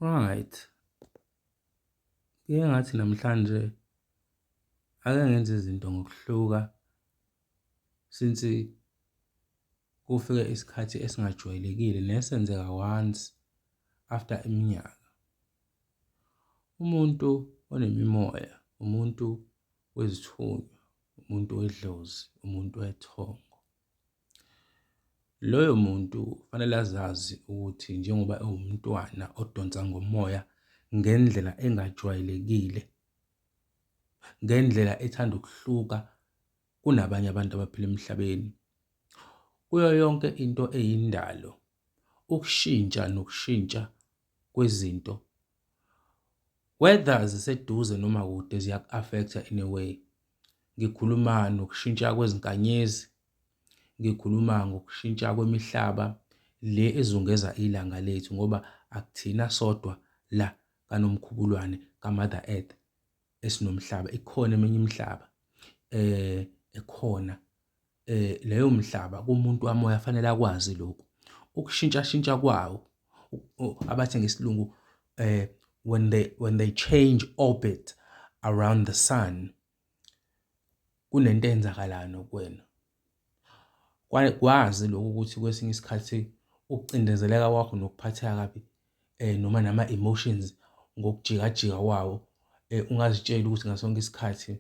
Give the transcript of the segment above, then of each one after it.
Alright. Ngike ngathi namhlanje ake ngenze izinto ngokuhluka since kufike isikhathi esingajwayelekile nesenzeka once after iminyaka. Umuntu onemimoya, umuntu wezithunywa, umuntu wedlozi, umuntu wethongo. Loyo muntu kufanele azazi ukuthi njengoba ewumntwana odonsa ngomoya ngendlela engajwayelekile, ngendlela ethanda ukuhluka kunabanye abantu abaphila emhlabeni. Kuyo yonke into eyindalo, ukushintsha nokushintsha kwezinto whether ziseduze noma kude ziyaku-affect-a in a way. Ngikhuluma nokushintsha kwezinkanyezi, ngikhuluma ngokushintsha kwemihlaba le ezungeza ilanga lethu ngoba akuthina sodwa la kaNomkhubulwane kaMother Earth esinomhlaba, ikhona eminye imihlaba eh ekhona leyo mhlaba kumuntu wamoya fanele akwazi lokhu. Ukushintshashintsha kwawo abathi ngesilungu when they when they change orbit around the sun kunento eyenzakalayo nokuwena. Kwazi lokhu ukuthi kwesinye isikhathi ukucindezeleka kwakho nokuphatheka kabi noma nama-emotions ngokujikajika kwawo ungazitsheli ukuthi ngaso sonke isikhathi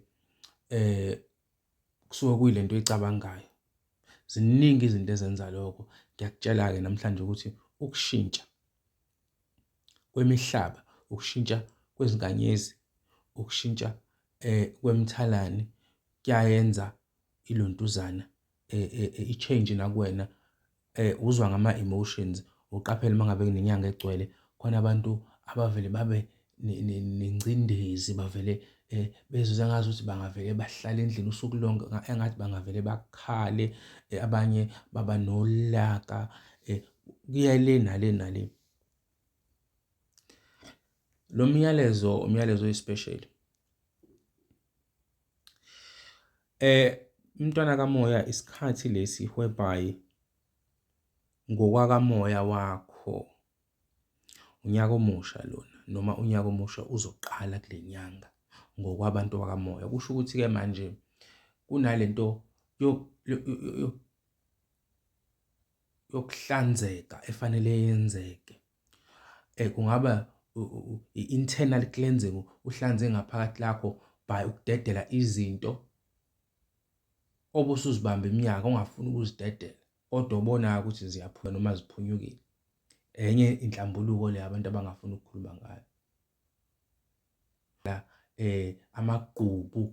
kusuke kuyilento oyicabangayo. Ziningi izinto ezenza lokho. Ngiyakutshela-ke namhlanje ukuthi ukushintsha kwemihlaba, ukushintsha kwezinkanyezi, ukushintsha kwemthalane kuyayenza ilontuzana eh, eh, eh, i-change nakuwena eh uzwa ngama emotions uqaphele mangabe kunenyanga egcwele khona abantu abavele babe nengcindezi bavele eh bezizwa ngazi ukuthi bangavele bahlale endlini usuku lonke engathi bangavele bakhale eh, abanye baba nolaka eh kuya le nale nale lo myalezo umyalezo oyispecial Eh mntwana kamoya isikhathi lesi whereby ngokwakamoya wakho unyaka omusha lona noma unyaka omusha uzoqala kule nyanga ngokwabantu bakamoya. Kusho ukuthi-ke manje kunalento yokuhlanzeka efanele yenzeke Kungaba i-internal cleansing, uhlanze ngaphakathi lakho by ukudedela izinto obusuzibamba iminyaka ongafuni ukuzidedela kodwa obonayo ukuthi ziyaphuma noma ziphunyukile. Enye inhlambuluko le abantu abangafuni ukukhuluma ngayo. La amagqubu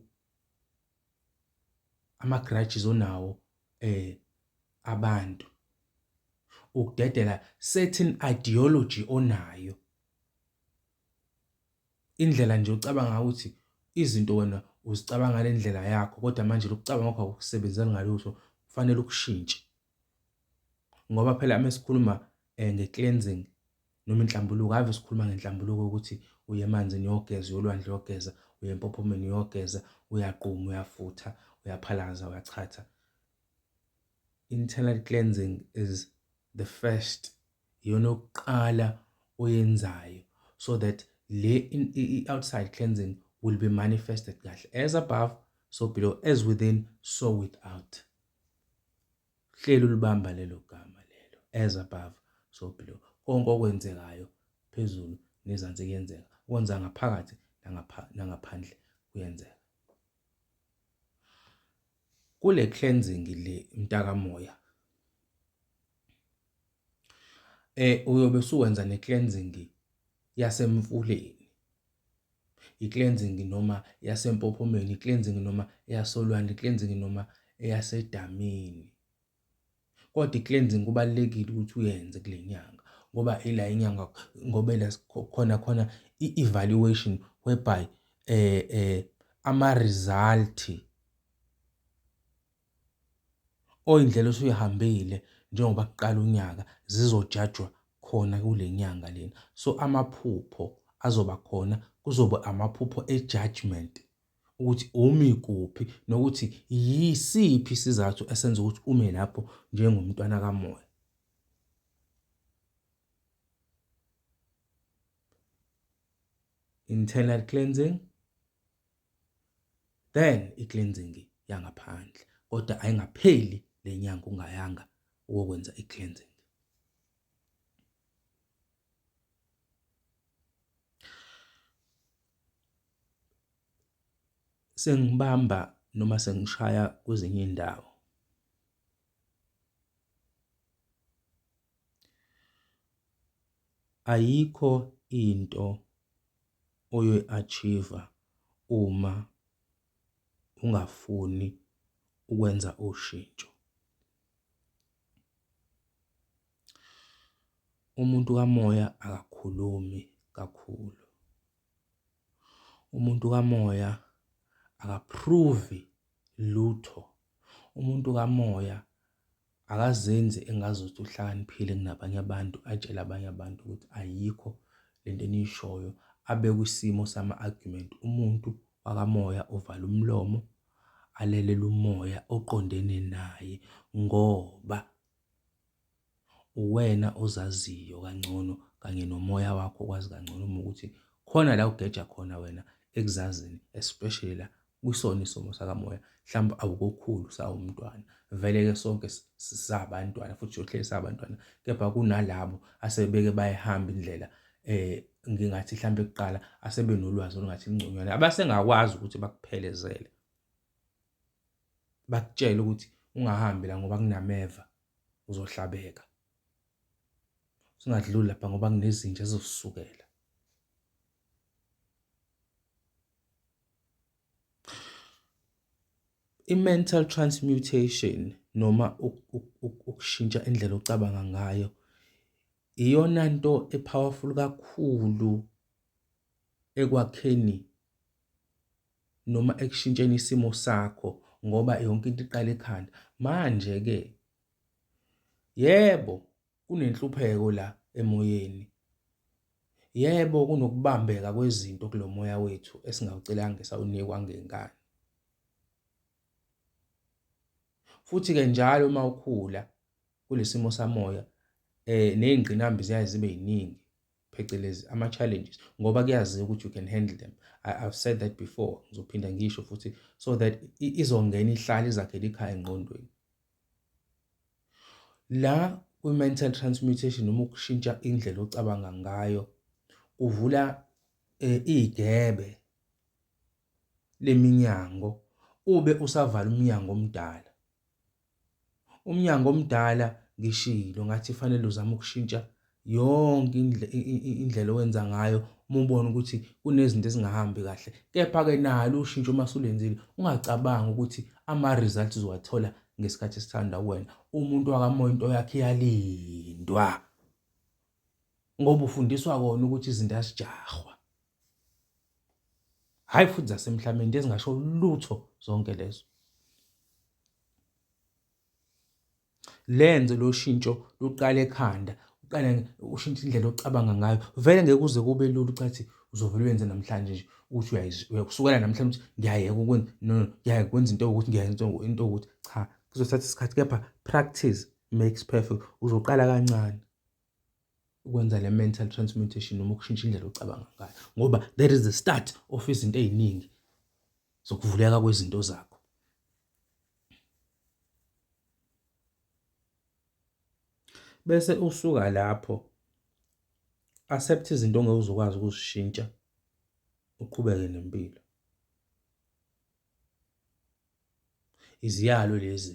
ama grudges onawo eh abantu ukudedela certain ideology onayo indlela nje ucabanga ukuthi izinto wena uzicabanga ngendlela yakho kodwa manje lokucabanga kwakho akusebenzeli ngalutho kufanele ukushintshe. Ngoba phela uma sikhuluma um nge-cleansing noma inhlambuluko, ave sikhuluma ngenhlambuluko ukuthi uye emanzini uyogeza, uyolwandle uyogeza, uye empophomeni uyogeza, uyaquma, uyafutha, uyaphalaza, uyachatha. Internal cleansing is the first, iyona yokuqala oyenzayo so that le i-outside cleansing will be manifested kahle as above so below as within so without. Hleli ulibamba lelo gama lelo as above so below. Konke okwenzekayo phezulu nezansi kuyenzeka. Okwenza ngaphakathi nangaphandle kuyenzeka. Kule cleansing le mtakamoya Eh uyobe usuwenza ne cleansing yasemfuleni, i cleansing noma yasempophomeni, i cleansing noma eyasolwandle, i cleansing noma eyasedamini. Kodwa i cleansing kubalulekile ukuthi uyenze kule nyanga ngoba ila inyanga ngoba ila khona khona i evaluation whereby eh eh ama result. oyindlela osuyihambile njengoba kuqala unyaka zizojajwa khona kule nyanga lena so amaphupho azoba khona kuzoba amaphupho e-judgment ukuthi umi kuphi nokuthi yisiphi isizathu esenza ukuthi ume lapho njengomntwana kamoya internal cleansing then i-cleansing yangaphandle kodwa ayingapheli lenyanga ungayanga ukwenza i-cleansing sengibamba noma sengishaya kwezinye indawo ayikho into oyoyi-achieve-a uma ungafuni ukwenza ushintsho. Umuntu kamoya akakhulumi kakhulu, umuntu kamoya aka-prove-i lutho, umuntu kamoya. Akazenzi engazuthi uhlakaniphile kunabanye abantu, atshele abanye abantu ukuthi ayikho le nto eniyishoyo, abe kwisimo sama-argument. Umuntu wakamoya uvala umlomo, alelele umoya oqondene naye ngoba uwena ozaziyo kangcono kanye nomoya wakho okwazi kangcono uma ukuthi khona la ugeja khona wena ekuzazini especially la kusona isomo sakamoya mhlawumbe awukokhulu sawumntwana vele ke sonke sisabantwana futhi siyohleli sabantwana kepha kunalabo asebeke bayihamba indlela eh ngingathi mhlambe kuqala asebe nolwazi olungathi lingconywana abasengakwazi ukuthi bakuphelezele bakutshele ukuthi ungahambi la ngoba kunameva uzohlabeka singadluli lapha ngoba kunezinja ezosukela I-mental transmutation noma ukushintsha indlela ocabanga ngayo iyona nto e-powerful kakhulu ekwakheni noma ekushintsheni isimo sakho ngoba yonke into iqala ekhanda. Manje-ke yebo. Kunenhlupheko la emoyeni. Yebo kunokubambeka kwezinto kulo moya wethu esingawucelanga esawunikwa ngenkani. Futhi-ke njalo uma ukhula kulesimo samoya eh nezingqinambi ziyaye zibe yiningi phecelezi ama challenges ngoba kuyaziwa ukuthi you can handle them I, I've said that before ngizophinda ngisho futhi so that izongena ihlale izakhele ikhaya engqondweni La kwi-mental transmutation noma ukushintsha indlela ocabanga ngayo kuvula eh, igebe leminyango ube usavala umnyango omdala umnyango omdala ngishilo ngathi fanele uzama ukushintsha yonke indlela owenza ngayo uma ubona ukuthi kunezinto ezingahambi kahle kepha-ke nalo ushintsho uma sulenzile ungacabangi ukuthi ama-results uwathola ngesikhathi esithanda wena umuntu wakamoya into yakhe iyalindwa ngoba ufundiswa kona ukuthi izinto azijahwa hhayi futhi zasemhlabeni ezingasho lutho zonke lezo Lenze lo shintsho luqale ekhanda, uqale ushintshe indlela ocabanga ngayo. Vele ngeke kuze kube lula ucathi uzovele uyenze namhlanje nje ukuthi uyakusukela namhlanje ukuthi ngiyayeka ukwenza no ngiyayeka ukwenza into ewukuthi ngiyayeka into into ewukuthi cha kuzothatha isikhathi kepha practice makes perfect uzoqala kancane ukwenza le mental transmutation noma ukushintsha indlela ocabanga ngayo ngoba there is the start of izinto eziningi zokuvuleka kwezinto zakho Bese usuka lapho, accept izinto ongeke uze ukwazi ukuzishintsha, uqhubeke nempilo. Iziyalo lezi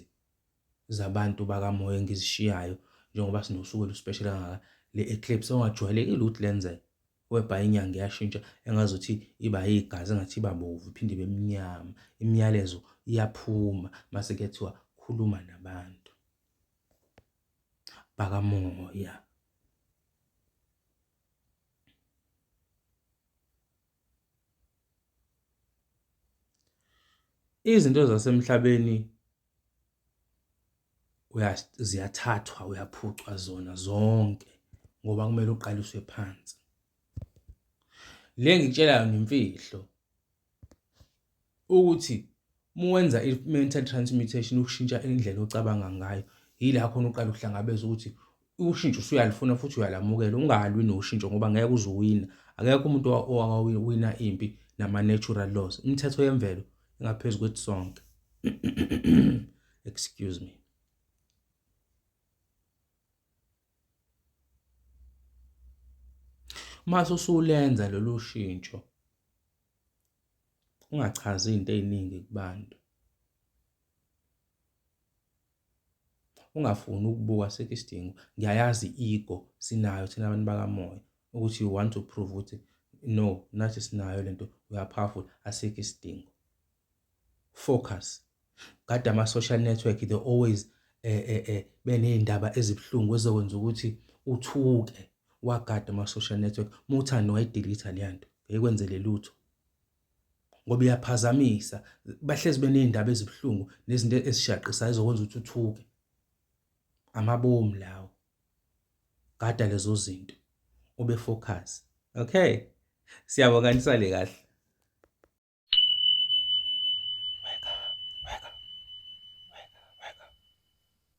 zabantu bakamoya engizishiyayo njengoba sinosuku oluspesheli kangaka, le-eclipse ongajwayelekile ukuthi lenzeke. webha inyanga iyashintsha engazuthi iba yigazi engathi iba bovu iphinde ibe mnyama imiyalezo iyaphuma mase kuyathiwa khuluma nabantu bakamoya izinto zasemhlabeni ziyathathwa uyaphucwa zona zonke ngoba kumele uqaliswe phansi. Le engikutshela yona imfihlo ukuthi uma wenza i-mental transmutation ukushintsha indlela ocabanga ngayo yila khona uqala ukuhlangabeza ukuthi ushintsho usuyalifuna futhi uyalamukela ungalwi noshintsho ngoba ngeke uze uwina akekho umuntu owawina impi nama-natural laws imithetho yemvelo ingaphezu kwethu sonke excuse me uma usulenza lolu shintsho ungachazi izinto eziningi kubantu ungafuni ukubuka asikho isidingo ngiyayazi i-ego sinayo thina abantu bakamoya ukuthi you want to prove ukuthi no nathi sinayo lento we are powerful asikho isidingo focus kade ama-social network they always eh eh eh beney'ndaba ezibuhlungu ezokwenza ukuthi uthuke wagada ama-social network muthani wayidelitha leya nto ngeyikwenzele lutho ngoba iyaphazamisa bahlezi beney'ndaba ezibuhlungu nezinto ezishaqisayo ezokwenza ukuthi uthuke amabomu lawo gada lezo zinto ube focus okay siyabonga nisale kahle